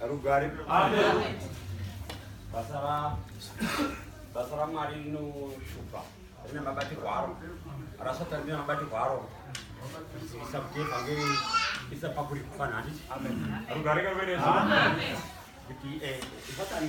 rugare basa ramwari rinoshupa rine mabatirwo aro rasata rine mabatirwo aro isa kuti evhangeri isa pakuri kufana handiti rugare kakuenesa kuti eh, satani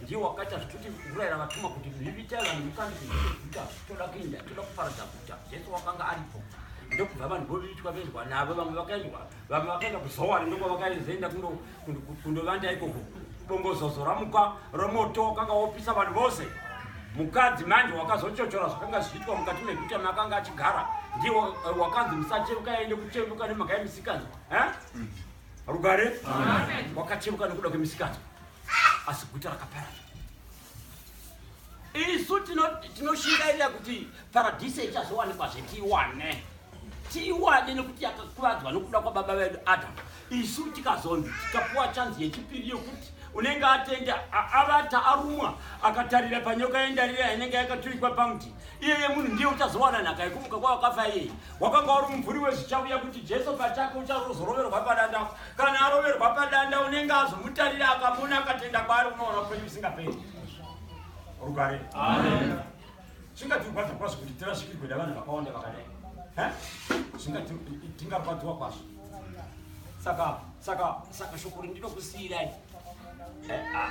ndiye wakaita zvituti kurayira vatuma kuti zvivitai vanhu mukandi kuita toda kuenda toda kuparadza guta jesu wakanga aripo ndokubva vanhu voitwa venzwa navo vamwe vakaendwa vamwe vakaenda kuzowari ndoko vakazoenda kundovanda ikoko bongozozo ramuka romoto wakanga wopisa vanhu vose mukadzi manje wakazochochora zvakanga zvichiitwa mukati meguta maakanga achigara ndiye eh, wakanzi musacheruka yaende kucheruka nemhaka yemisikanzwa eh? mm. rugare wakacheruka nekuda kwemisikanzwa asi guta rakaparara isu tinoshingairira kuti paradhise ichazowanikwa zvetiwane tiwane nekuti yakakuvadzwa nokuda kwababa vedu adamu isu tikazonzi tikapuwa chanzi yechipiri yokuti unenge atenda avata arumwa akatarira panyoka yendarira inenge yakaturikwa pamuti iyeye munhu ndiye uchazowana nhaka yekumuka kwawakafa iyeye wakanga uri mumvuri wezvichauya kuti jesu pachake uchazoroverwa padanda kana aroverwa padanda unenge azomutarira akamona akatenda kwaari unoona upenyu usingaperi rugare zvingatirwadza kwazvo kuti tirasvikirwe davanhu vakawanda vakadai zvingatingarwadziwa kwazvo saka saka saka shoko rindinokusiyirai eh, ah,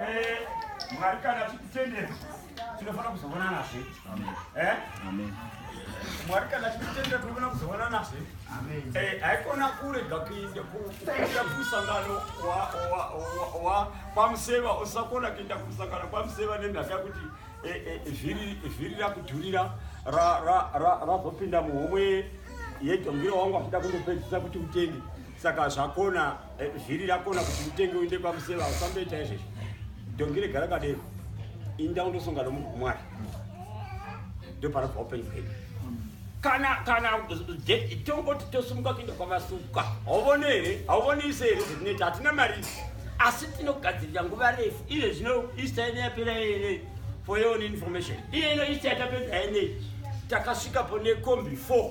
Eh, Mwari kana tikutendera tinofanira kuzovona nazve. Eh? Amen. Mwari kana tikutendera tinofanira kuzovona nazve. Amen. Eh, haikona kurega kuinda kuenda kumusangano wa- wa- wa- wa- kwamuseva usakona kuenda kumusangano kwamuseva nemhaka yekuti eh, eh, vhiri vhiri rakudhurira ra- ra- ra- razopinda muhomwe yedhongiro wangu achida kundopedzisa kuti utenge saka zvakona Eh, zviri rakona kuti utenge uinde kwamuseva usamboita izvezvo dongi regara kadero inda undosonga nomunhu mwari ndopanobva upenyu hwedu kana kana tongoti tosumuka kuenda kwamasuka hauvoni here hauvoni ise here zvetinoita hatina mari asi tinogadzirira nguva refu izve zvino ista ine yapera yene for your own information iye ino ista yatapedza yene takasvikapo nekombi four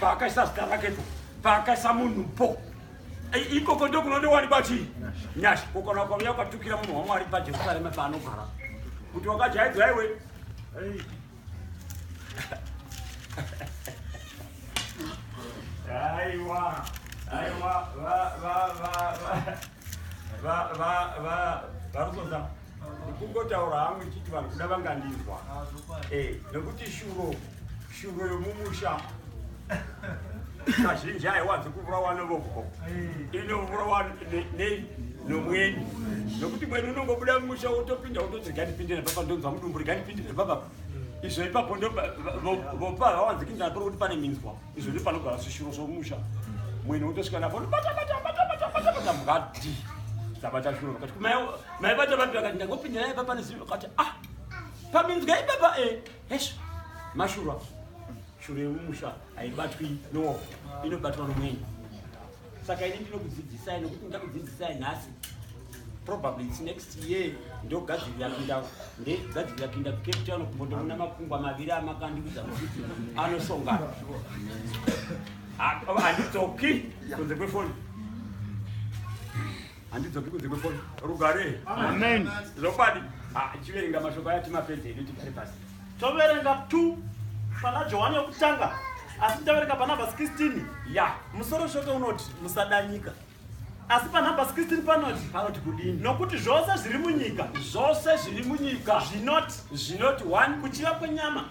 paakaisa zita rake po paakaisa munhu po ikoko ndokunondiwanikwa chii nyasha kokona kwauya kwatukira munhu wamwari pajerusarema paanogara kuti wakajaidzwa iwe aiwa aiwa varusoza kungotaura hangu ichiti vanhu kuda vangandinzwa eh, nekuti shuro Shuro yomumusha kazhinji haiwanzi kuvurawa novoko inovurawa nei nomweni nokuti mweni unongobuda mumusha wotopinda wototi ganipinde nepapa ndonzwa mudumbu riganipinde nepapa izvo ipapo ndovopa hawanzi kinzana pari kuti pane minzwa izvo ndi panogara zvishuro zvomusha mweni wotosvika napo nobatabatabatabatabata mukati dzabata shuro vakati maibata vapi vakati ndangopinda naye papa nezii vakati ah paminzwa ipapa e eh. Hesha, mashura shura yemumusha haibatwi no inobatwa nomweni saka ini ndinokudzidzisai nokuti ndakudzidzisai nhasi probably its next year ndogadzirira kuinda ndegadzirira kuinda kucape town kumbondoona makungwa maviri amakandiudza kuti anosongana handidzoki kunze kwefoni handidzoki kunze kwefoni rugare amen zvokwadi ah, chiverenga mashoko aya timapedze edu tigare pasi toverenga t pana johani yokutanga asi taverenga panambas 16 ya musoro shoko unoti musadanyika asi panambas 16 panoti panoti kudini nokuti zvose zviri munyika zvose zviri munyika zvinoti zvinoti one kuchiva kwenyama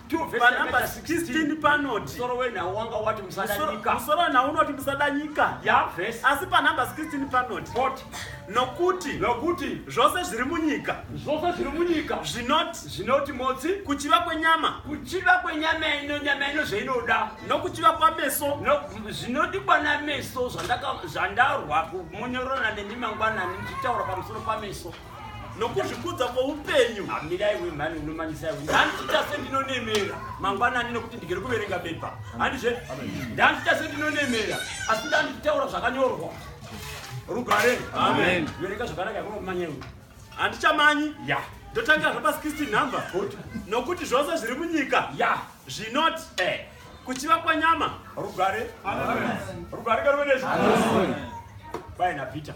panumber 16 panoti musoro wenhau wanga wati musadanyika musoro wenhau unoti musadanyika yavhesi asi panumber 16 panoti poti nokuti nokuti zvose zviri munyika zvose zviri munyika zvinoti zvinoti motsi kuchiva kwenyama kuchiva kwenyama ino nyama ino zvainoda nokuchiva kwameso zvinodikwa no, nameso zvandarwa munyorona nemi mangwanani ndichitaura pamusoro pameso nokuzvikudza kwoupenyu hamirai wemhani unomanyisa iwe ndandiita sendinonemera mangwanani nekuti ndigere kuverenga bepa handizve ndandiita sendinonemera asi ndandichitaura zvakanyorwa rugare verenga zvakanaka yakunokumanya iwe handichamanyi ya ndotangira zvapasi 16 number nokuti zvose zviri munyika ya zvinoti eh. kuchiva kwanyama rugare rugare karuvenezvi baina peter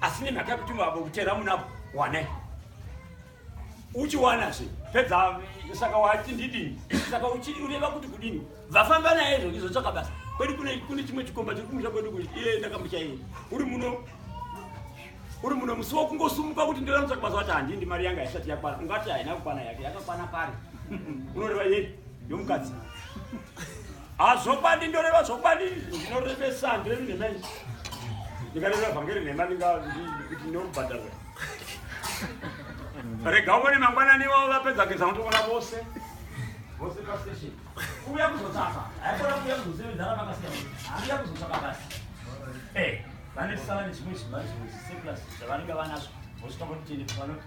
asi nemhaka yekuti mavo kutera munapo wanai uchiwana zve pedza saka wati ndidini saka ureva kuti kudini vafamba naye izvo izotsvaka basa kwedu kune chimwe chikomba chiri kumusha kwedu kuti iye ndakamuchaiye uri muno uri muno musi wakungosumuka kuti ndiramutsvaka basa wati handindi mari yanga haisati yakwana ungati haina kukwana yake yakakwana pari unoreva yei yomukadzi hazvokwadi ndoreva zvokwadi ndinorevesa ndirevi nhema i ndikareva vhangeri nhema ndingakuti ndinobhadharwa rega uvone mangwanani wavo vapedza kugeza motokona vose vose pastation kuuya kuzotsaka haikona kuuya kuzosevenzana vakasiya haiuya kuzotsaka basi e eh, vane sala nezvimwe zvimari zvimwe zviseplus zvavanenge vanazvo vosvika votitende vanoti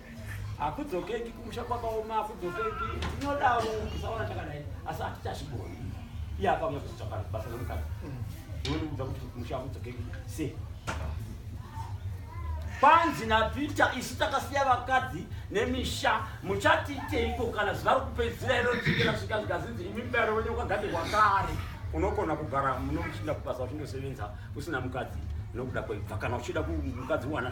hakudzokeki kumusha kwakaoma hakudzokeki tinodaro tisaona takadai asi hatichazvigoni iye akauya kuzitsvaka basa remukadzi unondiudza kuti kumusha hakudzokeki se kwanzi napeter isu takasiya vakadzi nemisha muchatiiteiko kana zuva rokupedzisira iro richikera svika zvikazinzi imi mbero wenye ukagadzirwa kare unogona kugara muno muchiinda kubasa uchindosevenza usina mukadzi nokuda kweibva kana uchida mukadzi uwana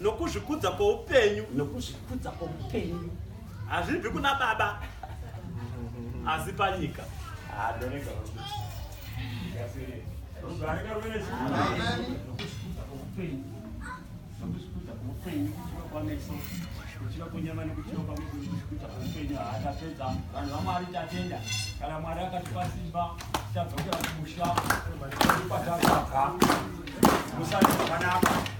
nokuzvikudza kwoupenyu nokuzvikudza kwoupenyu hazvibvi kuna baba asi panyika kuchiva kwenyama nekuchiva pamwe kuita kweupenyu haatapedza vanhu vamwari tatenda kana mwari akatipa simba tadzokera kumusha ipatasaka musati zvakanaka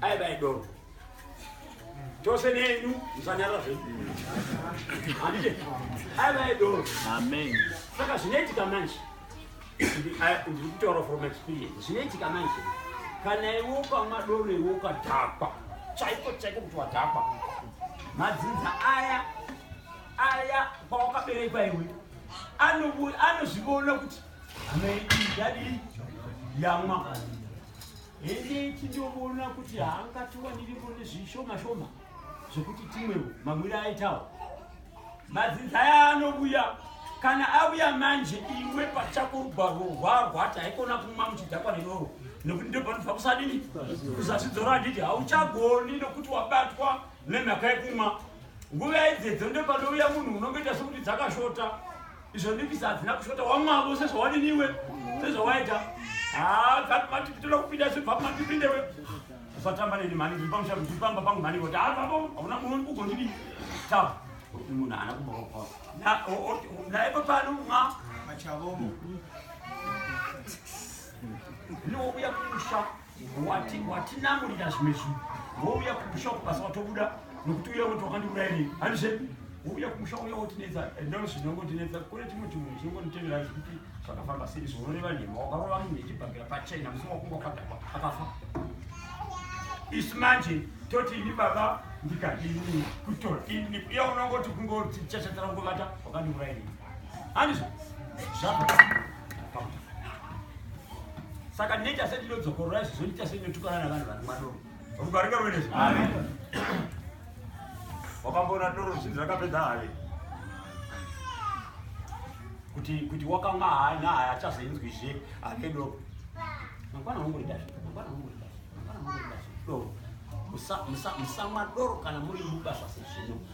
aiva idoro tose nenyu musanyara zvenyu handiti aiva idoro saka zvinoitika manje ndiri kutaura from experience zvinoitika manje kana iwe ukamwa doro iwe ukadhakwa chaiko chaiko kuti wadhakwa madzinza aya aya kwawakaberekwa iwe anozvivona kuti amai idadii yamwa Hende tindoona kuti haangatiwaniri mune zvishoma shoma zvekuti timwewo mamwire aitawo. Madzinza aya anobuya kana abuya manje iwe pachako rugwaro rwarwata haikona kumwa muchidhakwa neroro nekuti ndopanofa kusadini kuzasidzoro handiti hauchagoni nokuti wabatwa nemhaka yekumwa nguva idzedzo ndopanouya munhu unongoita sokuti dzakashota izvo ndikisi hadzina kushota wamwavo sezvawadiniwe sezvawaita dzatimatipitoda kupinda zvibva matipindewe usatamba neni mhani ndiri pamusha ndiri pamba pangu mhani kuti havapo hauna munhu ugondidii ta munhu haana kumboka naye papano mwa machavomo niwokuya kumusha watinamurira zvimwe zvinhu wouya kumusha kubasa watobuda nokuti uya woti wakandiurairei handizve wouya kumusha uya wotinetsa ndoo zvinongotinetsa kune chimwe chimwe chinongonditevera zvekuti zvakafamba sei zvinoreva nhema wakarova munhu yechibhakira pachena musi wakunga wakadhakwa akafa isu manje toti ini baba ndikadini kutora ini uya unongoti kungoti chachatarangovata wakandiurairei handizvo zvaa saka ndinoita sei ndinodzokorora izvozvo ndinoita sei ndinotukana navanhu vari mwadoro vakugarika ruvenezvo wakamboona doro zvinzi rakapedza havi kuti kuti wakamwa hayi nahayi achazoinzwizve ave doro mangwana hongoridahe mangwana hongoridahe mangwana hongoridahe doro musamwa doro kana muri mubasa sezvino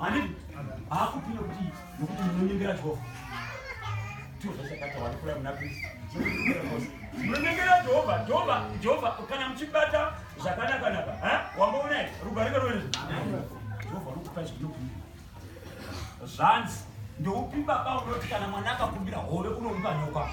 Ani haakupira kuti nokuti munonyengera Jehovha. Ndiwo zvachakata wanikura muna Kristu. Munonyengera Jehovha, Jehovha, Jehovha kana muchibata zvakanaka naka. Eh? Wamboona here? Rugare karwere. Jehovha anokupa zvinokumbira. Zvanzi ndoupi baba unoti kana mwana akakumbira hove unomupa nyoka?